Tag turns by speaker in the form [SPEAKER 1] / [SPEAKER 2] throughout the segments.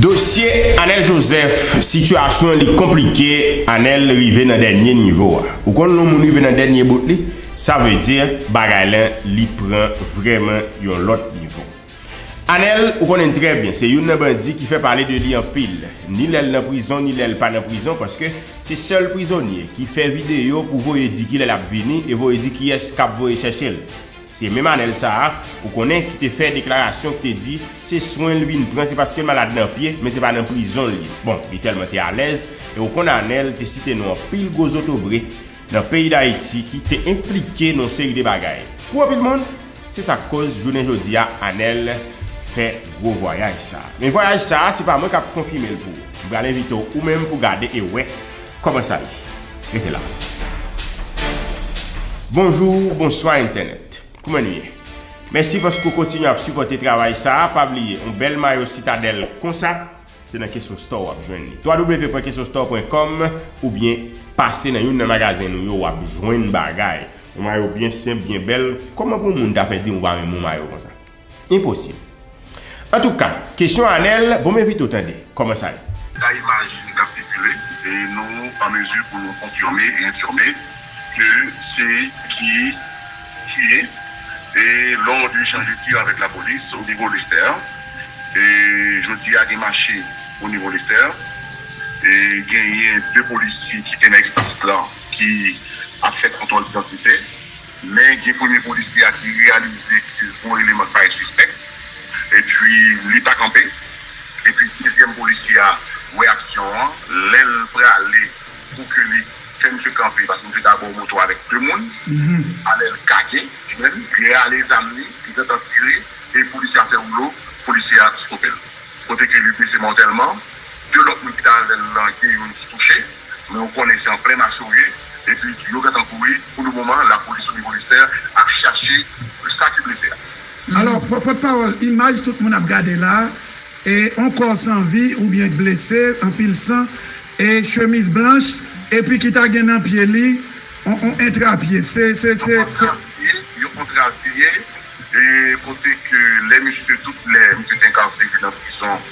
[SPEAKER 1] Dosye Anel Joseph sitiyasyon li konplike Anel rive nan dènye nivo a ou konn lè yon moun rive nan dènye bout li sa vle di bagay la li pran vrèman yon lòt nivo Anel ou konnen trè byen se youn nan bandi ki fè pale de li anpil ni lèl nan prizon ni lèl pa nan prizon paske se sèl prizonye ki fè videyo pou voye di kilè lap vini e voye di kiyès kap voye chèchel. Se menm Anèl sa a, ou konnen, ki te fè deklarasyon, ki te di, se swen l vin pran, se paske l malad nan pye, men se pa nan prizon l ye. Bon, li tèlman te alèz, e ou konn Anèl te site non anpil gwo zotobre nan peyi Dayiti ki te enplike nan yon seri de bagay pou anpil moun, se sa k koz jounen jodi a Anèl fè gwo vwayaj sa a. Men vwayaj sa a, se pa mwen k ap konfime l pou ou. M pral envite w ou menm pou gade e wè Kòman sa ye? Rete la. Bonjou, bonswa entènèt. Kouman nou ye? Mèsi paske ou kontinye ap sipòte travay sa a. Pa bliye, yon bèl mayo Citadelle konsa, se nan Kesson Store w ap jwenn li. www.kessonstore.com oubyen pase nan youn nan magazen nou yo w ap jwenn bagay. Yon mayo byen senp, byen bèl. Kòman pou yon moun ta fè di ou pa renmen yon mayo konsa? Enposib. Antouka, kesyon Anel, bon men Vito tande, kòman sa ye? Dapre imaj ki
[SPEAKER 2] t ap sikile, nou an mezi pou nou konfime e enfime ke se ki tiye e lòd li chanje tir avèk lapolis o nivo Lestè. E jodi a gen mache o nivo Lestè e genyen 2 polisye ki te nan espas la ki ap fè kontwòl didantite. Men gen premye polisye a ki reyalize ke gon eleman ki parèt sispèk, epi li pa kanpe, epi dezyèm polisye a wè aksyon an, lè l prale pou ke li fè misye kanpe, paske misye ta abò moto avèk 2 moun, alè l kake, ou konprann, li rale zam li, li gentan tire, e polisye a fè woulo, polisye a stope l, kote ke li blese mòtèlman, 2 lòt moun ki ta avè l lan gen youn ki touche. Men ou konnen se an plen aso ye epi yo gentan kouri, pou le moman lapolis o nivo listè ap chache sa ki blese a. Alò
[SPEAKER 3] pòt pawòl imaj tout moun ap gade la e on kò san vi oubyen k blese anpil san e chemiz blanch epi ki ta gen nan pye li on on entra pye se se se Yon se. antra
[SPEAKER 2] pye yon antra pye e kote ke lè misye tout lè misye te enkarserye nan prizon.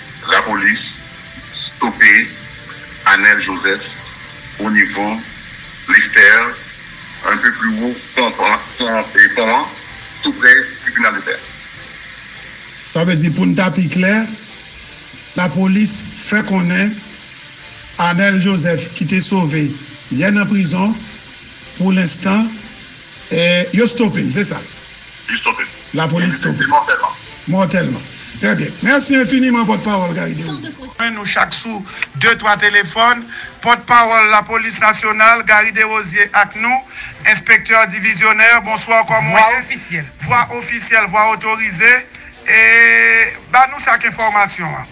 [SPEAKER 2] Lapolis stope Anel Joseph o nivo Lestèr, un peu plus haut pon pon an, tou prè tribinal Lestèr.
[SPEAKER 3] Sa vle di pou n ta pi klè, lapolis fè konnen Anel Joseph ki te sove yè nan prizon, pou lenstan yo stope l, se sa? Li stope.
[SPEAKER 2] Lapolis stope.
[SPEAKER 3] Li stope mòtèlman.
[SPEAKER 2] Mòtèlman.
[SPEAKER 3] Trè byen. Mèsi enfiniman pòtpawòl Gary Desrosier. Jwenn nou chak sou de twa telefòn. Pòtpawòl Lapolis Nasyonal Gary Desrosier ak nou. Enspektè divizyonè, bonswa kòman ou ye? Vwa ofisyèl. Vwa
[SPEAKER 4] ofisyèl,
[SPEAKER 3] vwa otorize. E, ba nou sak enfòmasyon an.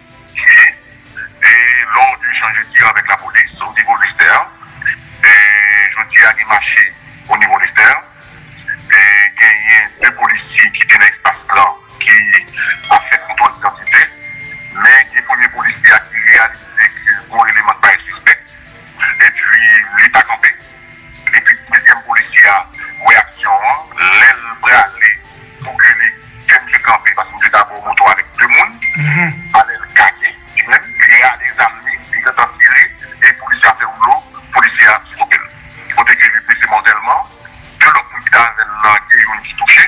[SPEAKER 2] tiye e lè w di chanje tir avèk la polis ou di go lestè e jodi a gen mache o nivo lestè e genyen 2 polisye ki te nan espas lan ki ap fè kontwòl idantite men gen premye polisye a ki reyalize ke gon eleman k parèt sispèk epi li pa kanpe. Depi dezyèm polisye a wè aksyon an, lè l prale pou ke li fè misye kanpe paske misye ta bò moto avèk 2 moun, alè l kake li menm, li rale zam li, li gentan tire e polisye a fè woulou, polisye a stope l. Kote ke li blese mòtèlman, 2 lòt moun ki te avè l lan gen youn ki touche.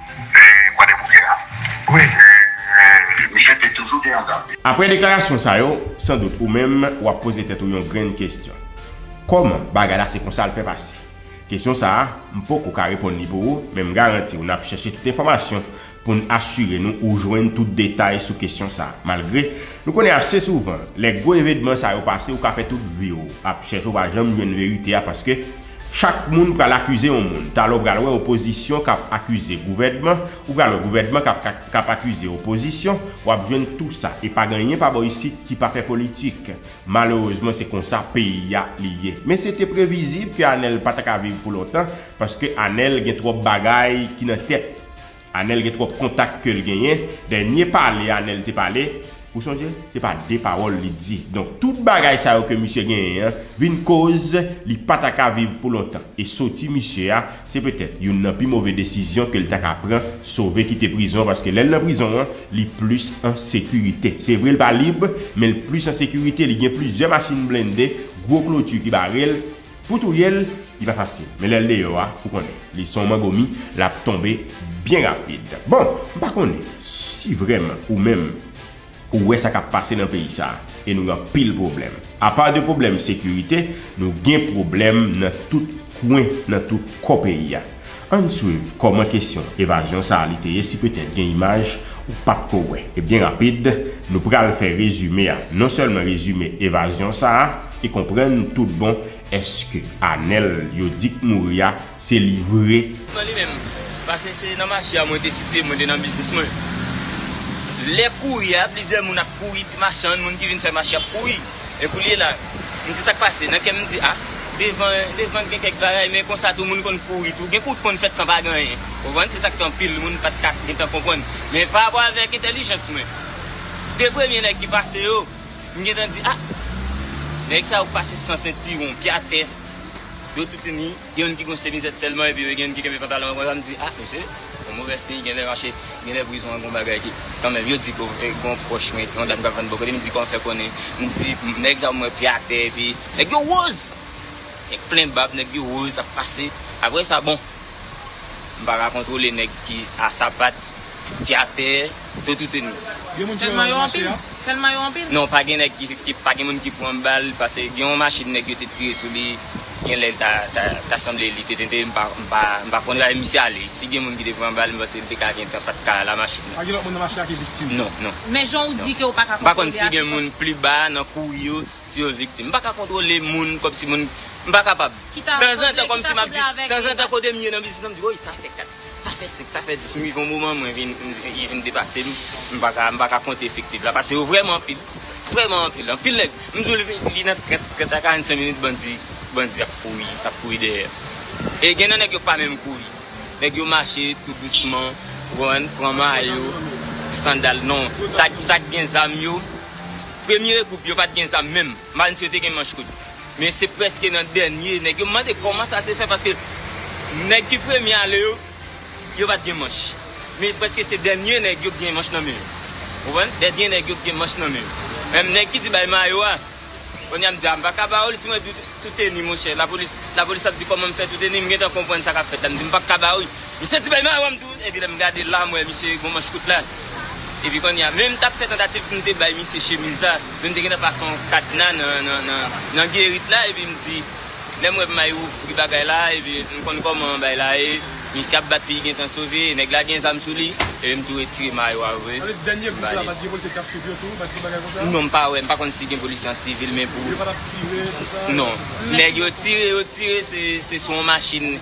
[SPEAKER 2] Aprè deklarasyon sa
[SPEAKER 1] yo, san dout ou menm w ap poze tèt ou yon grenn kesyon. Kòman bagay la se konsa l fè pase? Kesyon sa a, m poko ka reponn li pou ou, men m garanti w n ap chèche tout enfòmasyon pou n asire nou ou jwenn tout detay sou kesyon sa. Malgre, nou konnen ase souvan, lè gwo evenman sa yo pase ou ka fè tout vi w ap chèche ou pa janm jwenn verite a paske, Chak moun pral akize yon moun. Talè w pral wè opozisyon k ap akize gouvènman, ou pral wè gouvènman k ap akize opozisyon, w ap jwenn tou sa. E pa gen anyen pa bò isit ki pa fè politik. Malerezman se konsa peyi a li ye. Men se te previzib ke Anèl pa ta ka viv pou lontan, paske Anèl gen twòp bagay ki nan tèt. Anel gen trop kontak kel genyen, dènye pale Anel te pale, ou sonje se pa de pawol li t di, donk tout bagay sa yo ke misye genyen an vin koz li pa ta ka viv pou lontan, e soti misye a se petèt youn nan pi move desizyon kel ta ka pran, sove kite prizon paske lèl nan prizon an li plis an sekirite, se vre l pa lib menl plis an sekirite li gen plizyè machin blende, gwo kloti ki barel. Pou touye l, li pa fasil. Men lè l deyò a, ou konnen. Li son mango mi, l ap tonbe byen rapid. Bon, m pa konnen si vrèman ou menm ou wè sa k ap pase nan peyi sa a. E nou gen anpil pwoblèm. Apa de pwoblèm sekirite, nou gen pwoblèm nan tout kwen, nan tout kò peyi a. An n swiv kòman kesyon evazyon sa a li te ye si petèt gen imaj ou pa t ko wè. E byen rapid, nou pral fè rezime a. Non sèlman rezime evazyon sa a e konprann tout bon èske Anèl yo di k mouri a se li vre. Nan li menm.
[SPEAKER 5] Pase se nan mache a mwen te sitye, mwen te nan biznis mwen. Lè kouri a, plizyè moun ap kouri, ti machann, moun ki vin fè mache ap kouri. E koulye la, m di sa k pase? Nan kè m, m di, a, devan, devan gen kèk bagay, men konsa tou moun konn kouri tou. Gen kou konn fèt san pa gen anyen. Ou konprann? Se sa k fè anpil moun pa t ka gen tan konprann. Men parapò avèk entèlijans mwen, de premye nèg ki pase yo, m gen tan di, a, nèg sa yo pase san sentiwon, pye atè, do tout ini. Gen youn ki gon semizèt sèlman epi gen youn ki kenbe pantalon an konsa m di ah mesye yon movè siy genlè mache genlè prizon an gon bagay ki kanmenm yo di gon pwòch mwen yon dam kap vann bò kote m di kòman fè konnen m di nèg sa m wè pye atè epi nèg yo woz nèg plen bab nèg yo woz ap pase aprè sa bon m pa ka kontwole nèg ki a sapat. ki atè do toute nou. Gen moun ki wè yo mache a?
[SPEAKER 4] Telman yo anpil? Non pa gen nèg ki
[SPEAKER 5] pa gen moun ki pran bal pase gen yon machin nèg yo te tire sou li gen lè ta sanble li te tente m pa konn lè misye ale si gen moun ki te pran bal m panse li te ka gentan pat ka la machin nan. Pa gen lòt moun nan mache a ki viktim? Non non. Men jan ou
[SPEAKER 4] di ke ou pa ka kontwole a se kòman? M pa konn si gen moun
[SPEAKER 5] pli ba nan kouri yo si yo viktim. M pa ka kontwole moun kòmsi moun m pa kapab. Ki ta sanble ki ta sanble avèk. Tanzantan kote m ye nan biznis lan m di woy sa fè 4. Sa fè 5, sa fè 10, m rive yon moman mwen vin, li vin depase m, m pa ka, m pa ka konte efektif la pase yo vrèman anpil, vrèman anpil, anpil nèg, m di w li nan 30, 30 a 45 minit bandi, bandi ap kouri, ap kouri dèyè yo. E gen nan nèg yo k pa menm kouri, nèg yo mache tou dousman, ou konprann, pran mayo, sandal, non, sa k gen zam yo, premye gwoup yo pa t gen zam menm. Manch yo te gen manch kout. Men se prèske nan dènye nèg yo. M mande kòman sa se fè paske nèg ki premye ale yo, yo pa t gen manch. Men prèske se dènye nèg yo k gen manch nan men yo. Ou konprann? Dènye nèg yo k gen manch nan men yo. Menm nèg ki di bay mayo a, kounye a m di a m pa ka ba ou l si mwen di w tou teni monchè. Lapolis ap di kòman m fè tou teni. M gentan konprann sa k ap fèt la. M di m pa ka ba ou l. Misye di bay marom tou epi lèm gade la m wè misye gon manch kout la epi konnya menm tap fè tantativ poum te bay misye chemiz la menm te gentan pase yon kadna nan gerit la epi m di lèm wè may ouvri bagay la epi m konn koman bay la ye misye ap bat li gentan sove e nèg la gen zam sou li epi m tou retire mayo a vre m
[SPEAKER 6] bali non m pa wè m pa konn
[SPEAKER 5] si gen polisye an sivil men pou non nèg yo tire yo tire se sou yon machin.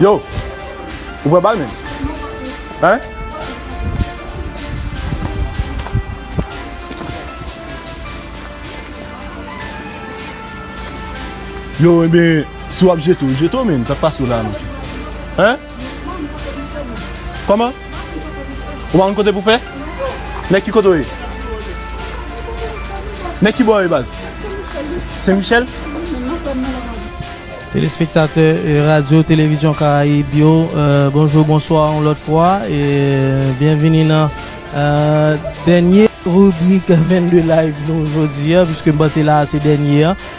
[SPEAKER 7] Yo! Ou pran bal menm? Hein? Yo enben, si wap jete w, jete w menm, sak pase w la menm? Hein? Koman? Ou pa konn kote pou fè? Nèg ki kote ou ye? Nèg ki bò ou ye baz? Sen Michel?
[SPEAKER 8] Telespektatè Radyo Televizyon Karayib yo, bonjou, bonswa yon lòt fwa e byenvini nan dènye ribrik 22 Live nou jodi a, piske m panse la a se dènye a.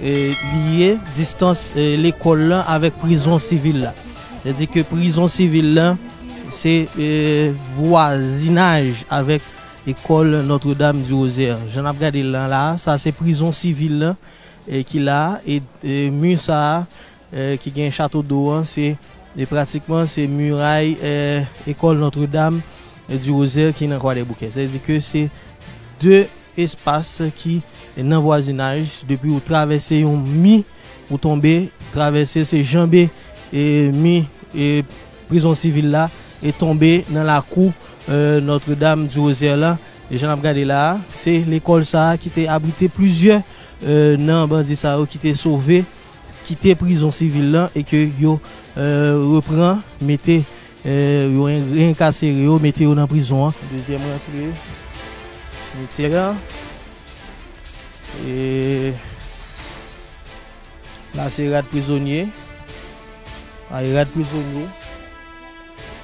[SPEAKER 8] Liye distans lekòl lan avèk prizon sivil la. Se di ke prizon sivil la se vwazinaj avèk lekòl Notre Dame du Rosaire. Jan n ap gade l lan la a, sa se prizon sivil lan ki la a. E mi sa a, ki gen Chato do an se pratikman se miray Ecole Notre Dame du Rosaire ki nan Kwadèboukè. Sa vle di ke se 2 espas ki nan vwazinaj, depi ou travèse yon mi ou tonbe travèse se janbe mi prizon sivil la e tonbe nan lakou Notre Dame du Rosaire la. Jan n ap gade la a, se lekòl sa a ki te abrite plizyè nan bandi sa yo ki te sove. kite prizon sivil lan e ke yo repran mete yo reenkasere yo mete yo nan prizon an. Dezyèm rantre simityè a e la se rad prizonye, a e rad prizonye.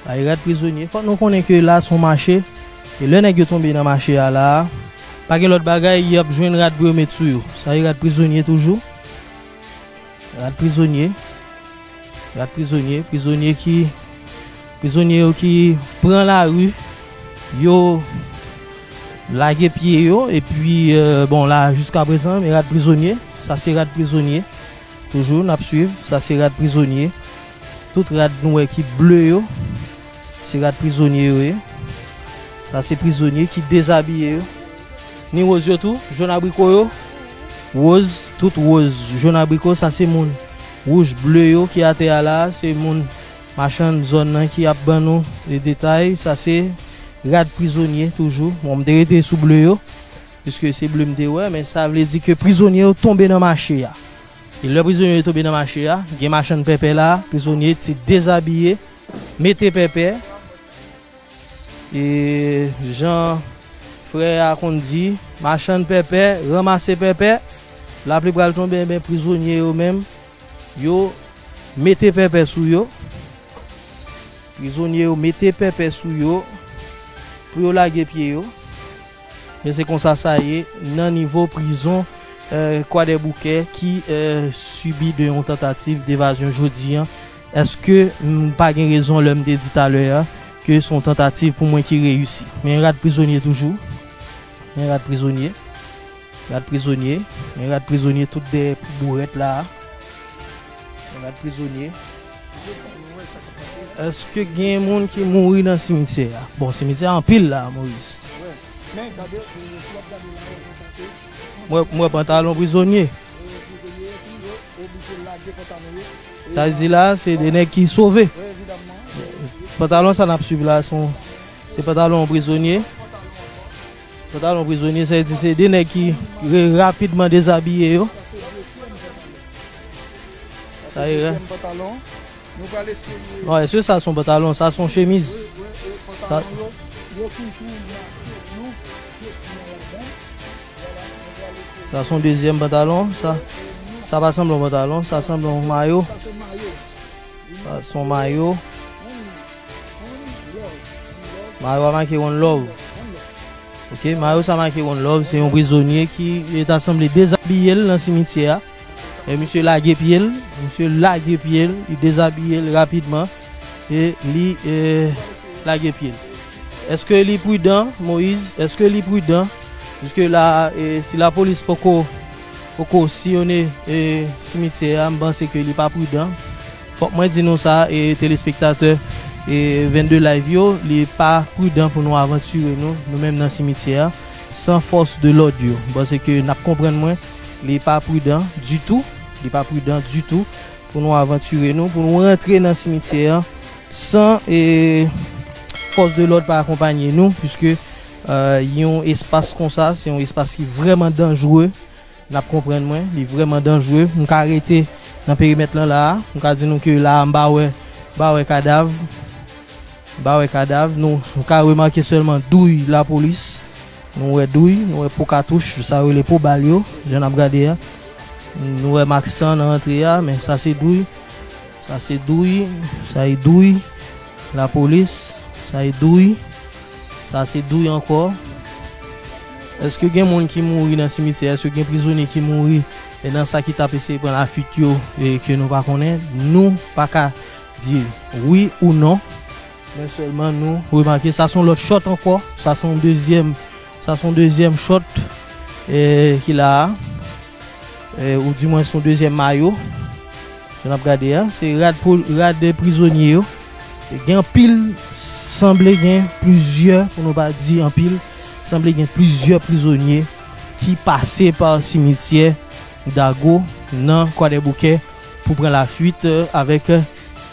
[SPEAKER 8] Bay rad prizonye. Fòk nou konnen ke la son mache, e lè nèg yo tonbe nan mache a la a, pa gen lòt bagay, y ap jwenn rad pou yo met sou yo. Sa e rad prizonye toujou. Rad prizonye. Rad prizonye. Prizonye ki, prizonye yo ki pran lari, yo lage pye yo, epi bon la jiskaprezan, men rad prizonye. Sa se rad prizonye. Toujou nap swiv, sa se rad prizonye, tout rad nou wè ki ble yo, se rad prizonye yo ye, sa se prizonye ki dezabiye yo, ni woz yo tou, jòn abriko yo, woz, tout woz, jòn abriko, sa se moun, wouj, ble yo ki atè a la, se moun, machann zòn nan ki ap ban nou detay, sa se rad prizonye toujou, bon m te rete sou ble yo. Piske se ble m te wè, men sa vle di ke prizonye yo tonbe nan mache a. E lè prizonye yo tonbe nan mache a, gen machann pèpè la, prizonye te dezabiye, mete pèpè. E jan frè a konn di, machann pèpè ranmase pèpè, lapli pral tonbe, enben prizonye yo menm, yo mete pèpè sou yo. Prizonye yo mete pèpè sou yo pou yo lage pye yo. Men se konsa sa ye nan nivo prizon kwadèboukè ki sibi de yon tantativ devazyon jodi an. Eske m pa gen rezon lè m te di talè a ke se yon tantativ pou mwen ki reyisi? Men rad prizonye toujou. Men rad prizonye. Rad prizonye. Men rad prizonye tout dèyè bourèt la a. Men rad prizonye. Eske gen moun ki mouri nan simityè a? Bon simityè a anpil la Moise. M wè pantalon prizonye. Sa l di la se de nèg ki sove. Pantalon sa n ap swiv la se pantalon prizonye. Pantalon prizonye sa vle di se 2 nèg ki rapidman dezabiye yo. Sa ye la. Bon, èske sa son pantalon? Sa son chemiz. Sa son dezyèm pantalon. Sa pa sanble yon pantalon. Sa sanble yon mayo. Sa son mayo. Mayo a make one love. Ok, mayo sa make one love se yon prizonye ki yo ta sanble dezabiye l nan simityè a. E misye lage pye l, misye lage pye l, li dezabiye l rapidman e li lage pye l. Eske li pridan Moise? Eske li pridan? Jiske la a si lapolis poko siyone simityè a, m panse ke li pa pridan. Fòk mwen di nou sa e telespektatè 22 live yo, li pa prudan pou nou avantire nou, nou menm nan simityè a, san fòs de lòd yo. M'panse ke n'ap konprann mwen, li pa prudan ditou, li pa prudan ditou pou nou avantire nou, pou nou rantre nan simityè a san fòs de lòd pa akonpanye nou, puiske yon espas konsa, se yon espas ki vrèman danjre. Nap konprann mwen, li vrèman danjre. M ka rete nan perimèt lan la a. M ka di nou ke la a m pa wè, m pa wè kadav. M pa wè kadav. Nou ka remake sèlman douy lapolis. Nou wè douy, nou wè po katouch, sa yo rele po bal yo, jan nap gade a. Nou wè mak san nan antre a, men sa se douy. Sa se douy, sa e douy. La polis sa e douy. Sa se douy ankò. Eske gen moun ki mouri nan simityè eske gen prizonye ki mouri e nan sa ki tap eseye pran la fuit yo e ke nou pa konnen nou pa ka di wi ou non men sèlman nou remake sa son lòt shòt ankò sa son dezyèm Sa son dezyèm chòt ki la a. Ou di mwen son dezyèm mayo. Jan n ap gade a. Se rad prizonye yo. Gen anpil. Sanble gen plizyè. Pou nou pa di anpil. Sanble gen plizyè prizonye. Ki pase pa simityè. Dago nan kwadèboukè. Pou pran la fuit. Avèk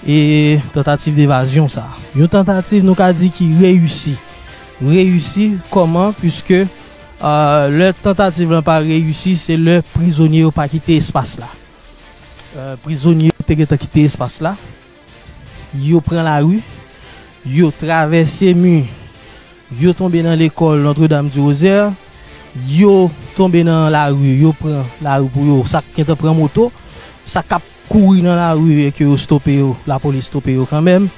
[SPEAKER 8] e tantativ devazyon sa. Yon tantativ nou ka di ki reyisi. Reyisi kòman puiske lè tantativ lan pa reyisi se lè prizonye yo pa kite espas la. Prizonye yo te gentan kite espas la, yo pran lari, yo travèse mi, yo tonbe nan lekòl Notre Dame du Rosaire, yo tonbe nan lari, yo pran lari pou yo, sa k gentan pran moto, sa k ap. kouri nan lari e ke yo stope yo, lapolis stope yo kanmenm,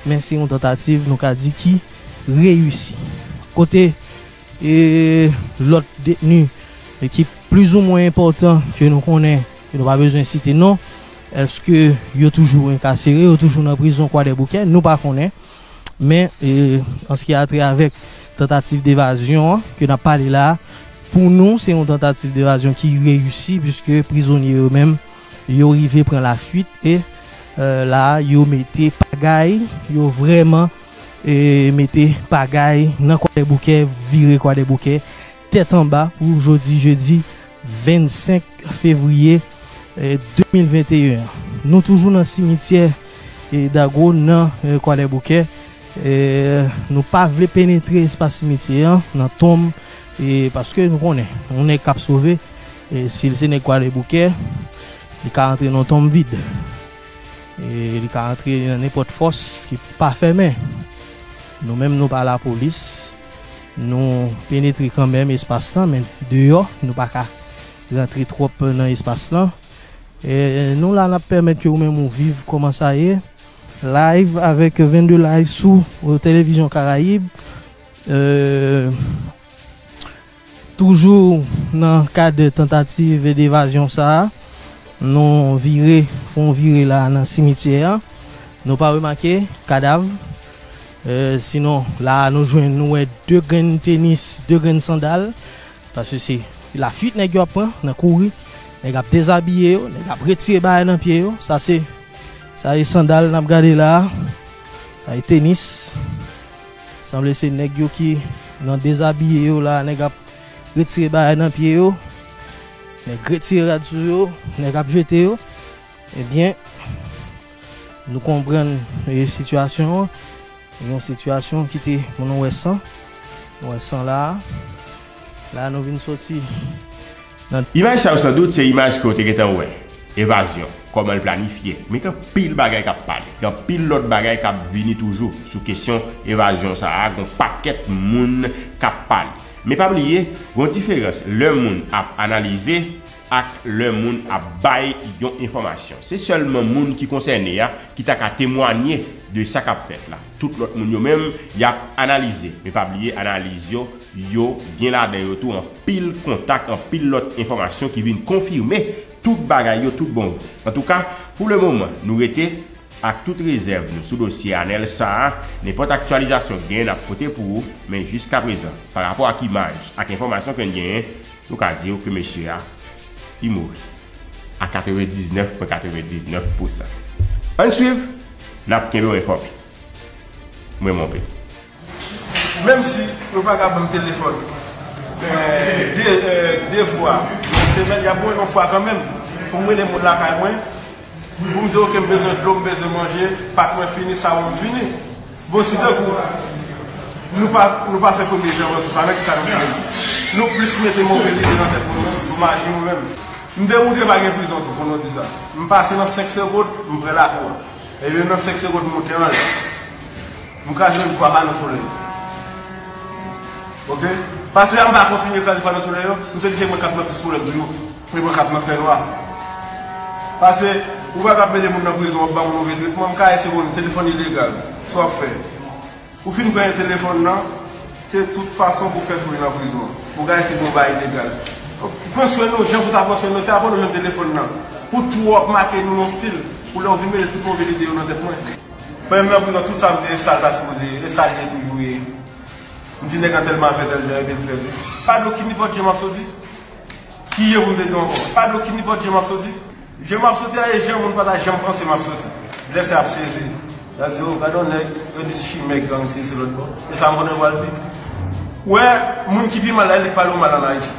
[SPEAKER 8] men se yon tantativ nou ka di ki reyisi. Kote e lòt detni e ki plizoumwen enpòtan ke nou konnen, ke nou pa bezwen site non, èske yo toujou enkasere, yo toujou nan prizon Kwadèboukè, nou pa konnen. Men e an se ki a trè avèk tantativ devazyon an ke nap pale la, pou nou se yon tantativ devazyon ki reyisi, puiske prizonye yo menm, Yo rive pran lafuit e la yo mete pagay, yo vrèman mete pagay nan Kwadèboukè, vire Kwadèboukè tèt anba pou jodi jedi 25 fevriye 2021 an. Nou toujou nan simityè Dago nan Kwadèboukè, nou pa vle penetre espas simityè an nan tonm paske nou konnen yon nèg k ap sove E si l se nèg Kwadèboukè, li ka antre nan yon tonm vid. E li ka antre nan nenpòt fòs ki pa fèmen. Nou menm nou pa lapolis, nou penetre kanmenm espas lan, men deyò, nou pa ka rantre twòp nan espas lan. E nou la n ap pèmèt ke ou menm ou viv kòman sa ye, live, avèk 22 live sou Televizyon Karayib. E. Toujou nan kad tantativ devazyon sa a, nou vire, fè yon vire la nan simityè a. Nou pa remake kadav. Sinon, la a nou jwenn, nou wè 2 grenn tenis, 2 grenn sandal. Paske se lafuit nèg yo ap pran, nan kouri. Nèg ap dezabiye yo, nèg ap retire bagay nan pye yo. Sa se, sa e sandal n ap gade la a. Sa e tenis. Sanble se nèg yo ki nan dezabiye yo la, nèg ap retire bagay nan pye yo, nèg retire rad sou yo, nèg ap jete yo, ebyen nou konprann sitiyasyon an, yon sitiyasyon ki te pou nou wè san, nou wè san la a, la nou vin soti
[SPEAKER 1] Imaj sa yo san dout se imaj ke w te gentan wè, evazyon, kòman l planifye. Men gen anpil bagay k ap pale, gen anpil lòt bagay k ap vini toujou sou kesyon evazyon sa a, gen yon pakèt moun k ap pale. Men pa bliye, gen yon diferans lè moun ap analize ak lè moun ap bay yon enfòmasyon. Se sèlman moun ki konsène a ki ta ka temwanye de sa k ap fèt la. Tout lòt moun yo menm, y ap analize. Men pa bliye analiz yo, yo gen ladan yo tou anpil. pil kontak anpil lòt enfòmasyon ki vin konfime tout bagay yo tout bon vre. Antouka, pou le moman, nou rete ak tout rezèv nou sou dosye Anèl sa a, nenpòt aktyalizasyon k gen n ap pote pou ou, men jiskaprezan, pa rapò ak imaj ak enfòmasyon ke n genyen, nou ka di w ke mesye a li mouri a 99 pwen 99 pousan. Ann swiv, n ap kenbe w enfòme. M renmen w anpil.
[SPEAKER 9] Menm si yo pa ka banm telefòn 2 fwa nan semèn, y ap mwen yon fwa kanmenm pou m rele moun lakay mwen pou m di ok m bezwen dlo, m bezwen manje, pak mwen fini, sawon m fini. Bon si tankou nou pa nou pa fè premye jan wè sou sa nan kisa nou fini? Nou plis mete move lide nan tèt moun nan, maji mwen menm. M demoutre pa gen prizon tou pou nou di sa. M pase nan 5 segond m pre lakou a. Ebyen nan 5 segond m moute anlè. Nou ka jwenn twa pano solè yo. Ok. Pase a mpa kontinye kraze pano solè yo. Mte di se mwen kap nan plis pwoblèm toujou. Se mwen kap nan fè nwa. Pase ou pa kap mete moun nan prizon wap banm move tretman. Mka ese konn telefòn ilegal. Sa wap fè. Ou fin pran yon telefòn nan. Se tout fason pou fè foure nan prizon. Ou ka ese konn bay ilegal. Pran swen nou jan pou ta pran swen nou. Se apre nou jwenn telefòn nan. Pou twòp make nou nan stil. Pou lè ou vin mete tout move lide yo nan tèt mwen. Premye m nan prizon tout sam te sal ta sipoze ye e sal ye toujou ye m di nèg lan tèlman ap fè tèl jan epi l fèl pa gen okin nipòt je map soti ki je pou m te di ankò pa gen okin nipòt je map soti je map soti a e je moun pa ta janm panse map soti lè sa yap sezi yap di oh gade yon nèg yo di chimè gang si se lòt bò e sa m konnen yo pral di ou wè moun ki pi mal la e li k pale w mal an Ayiti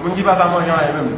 [SPEAKER 9] moun ki pa ka manje anyen menm.